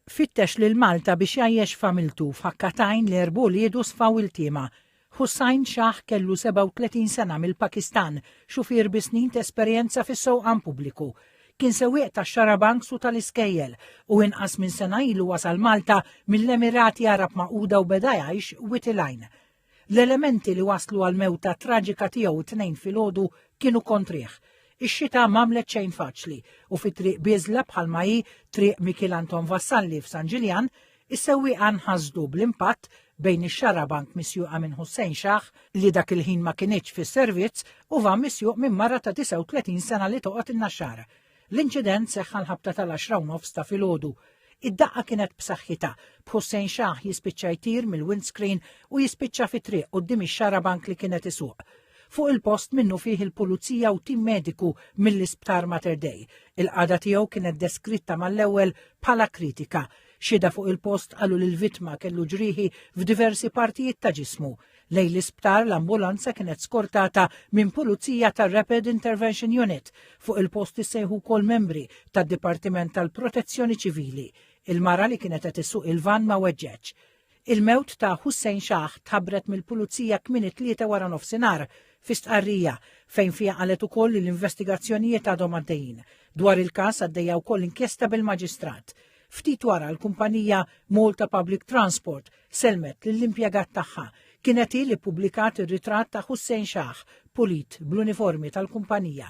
Fittex lil Malta biex jgħajjex familtu f'ħakka t'għajn li erb' uliedu sfaw iltiema. Hussain Shah kellu 37 sena mill-Pakistan, xufier bi snin t'esperjenza fis-sewqan pubbliku. Kien sewwieq tax-xarabanks u tal-iskejjel u inqas minn sena ilu wasal Malta mill-Emirati Għarab Magħquda u beda jgħix Wied il-Għajn. L-elementi li waslu għal mewta traġika tiegħu t-Tnejn filgħodu kienu kontrih. Ix-xita m'għamlet xejn faċli u fi Triq Biżla bħalma hi Triq Mikiel Anton Vassalli f'San Ġiljan, is-sewwieqa nħasdu bl-impatt bejn ix-xarabank misjuqa minn Hussein Shah, li dak il-ħin ma kinitx fis-servizz, u van misjuq minn mara ta' 39 sena li toqgħod in-Naxxara. L-inċident seħħ għall-ħabta tal-għaxra u nofs ta' filgħodu. Id-daqqa kienet b'saħħitha, b'Hussein Shah jispiċċa jtir mill-windscreen u jispiċċa fi triq quddiem ix-xarabank li kienet isuq. Fuq il-post minnufih il-pulizija u tim mediku mill-Isptar Mater Dei. Il-qagħda tiegħu kienet deskritta mal-ewwel bħala kritika. Xhieda fuq il-post qalu li l-vittma kellu ġrieħi f'diversi partijiet ta' ġismu. Lejn l-isptar l-ambulanza kienet skortata minn pulizija tar-Rapid Intervention Unit. Fuq il-post issejħu wkoll membri tad-Dipartiment tal-Protezzjoni Ċivili. Il-mara li kienet qed issuq il-vann ma weġġgħetx. Il-mewt ta' Hussein Shah tħabbret mill-pulizija kmieni t-Tlieta wara nofsinhar fi stqarrija fejn fiha qalet ukoll li l-investigazzjonijiet għadhom għaddejjin. Dwar il-każ għaddejja wkoll inkjesta bil-Maġistrat. Ftit wara l-kumpanija Malta Public Transport selmet lill-impjegat tagħha kienet hi li ppubblikat ir-ritratt ta' Hussein Shah pulit bl-uniformi tal-kumpanija.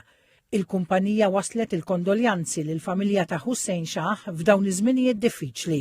Il-kumpanija wasslet il-kondoljanzi lill-familja ta' Hussein Shah f'dawn iż-żminijiet diffiċli.